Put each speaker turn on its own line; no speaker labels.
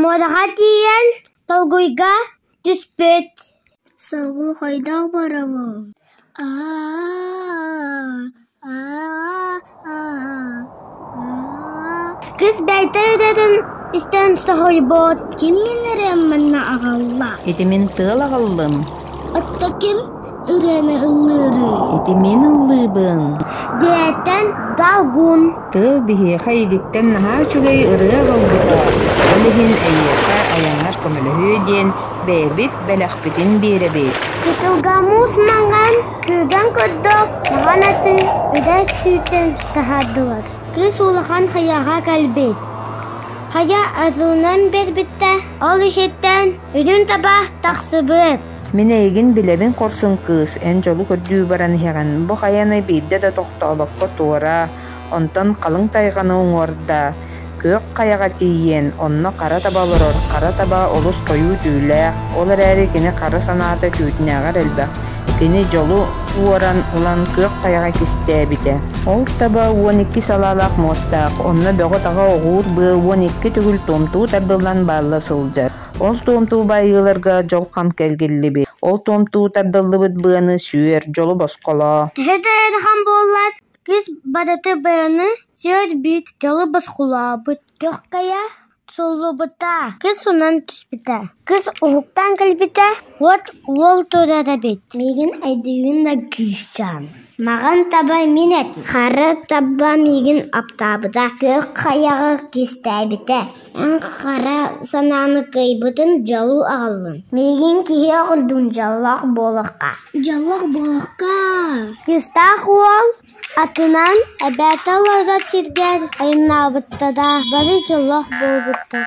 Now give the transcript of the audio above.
Муодаҕа тиийэн толкуйга түспүт «Соргу хайдах барабын?» Кыыс бэйэтэ идэтин истэн соһуйбут «Ким мин эрэ манна аҕалла?» «Ити мин тыал
аҕаллым» «Отто ким
ырыаны ыллыырый Ити мин
ыллыыбын. дээтэн
далгун Тыал биһиэхэ
илиттэн наһаа үчүгэй ырыа ылбыта. Ол иһин эйиэхэ айаннар көмөлөһүө диэн бэйэбит бэлэхпитин биэрэбит. кытылгамуус
маҥан кыыган көрдөөх хаҕан аты ыдай түүтэн таһаардылар кыыс улахан хайаҕа кэлбит хайа атылынан биэрбиттэ ол иһиттэн үрүн таба тахсыбыт Мин эйигин
билэбин хорсун кыыс, эн дьолу көрдүү баран иһэҕин, бу хайа эмэ биирдэ да тохтообокко туора, онтон халыҥ тайҕаны уҥуорда, күөх хайаҕа тиийиэн, онно хара таба олорор, хара таба олус хойуу түүлээх, ол эрээри кини хара санаата түүтүнээҕэр элбэх, кини дьолу уоран ылан күөх тайҕа кистээбитэ. Ол таба уон икки салаалаах муостаах, онно бөҕө-таҕа оҕуур быа уон икки төгүл томтуу тардыллан баалла сылдьар. Ол туомтуу байыыларга дьолхом кэлгиллибит, ол туомтуу тардыллыбыт быаны сүөр, дьолу босхолоо. Киһи да ыарахан
буоллар, кис бадаты быаны сүөр бүт, дьолу босхолообут. Көхкөйө суллубута, кыс унан түспүтэ. Кыс уһуктан кэлбитэ, уот уол турара бит. Мигин айдыйын да күүсчаан. Маған таба мин эти. Хары таба мигин аптаабыта. Көх хаяғы кистәбіте. Хара санааны кыайбытын дьолу аҕаллын. Миигин киһи оҕолдун дьоллоох буолахха. Дьоллоох буолахха. Кыыстаах уол атынан эбээтэ олорор сиргэр айаннаабытта да бары дьоллоох буолбуттар.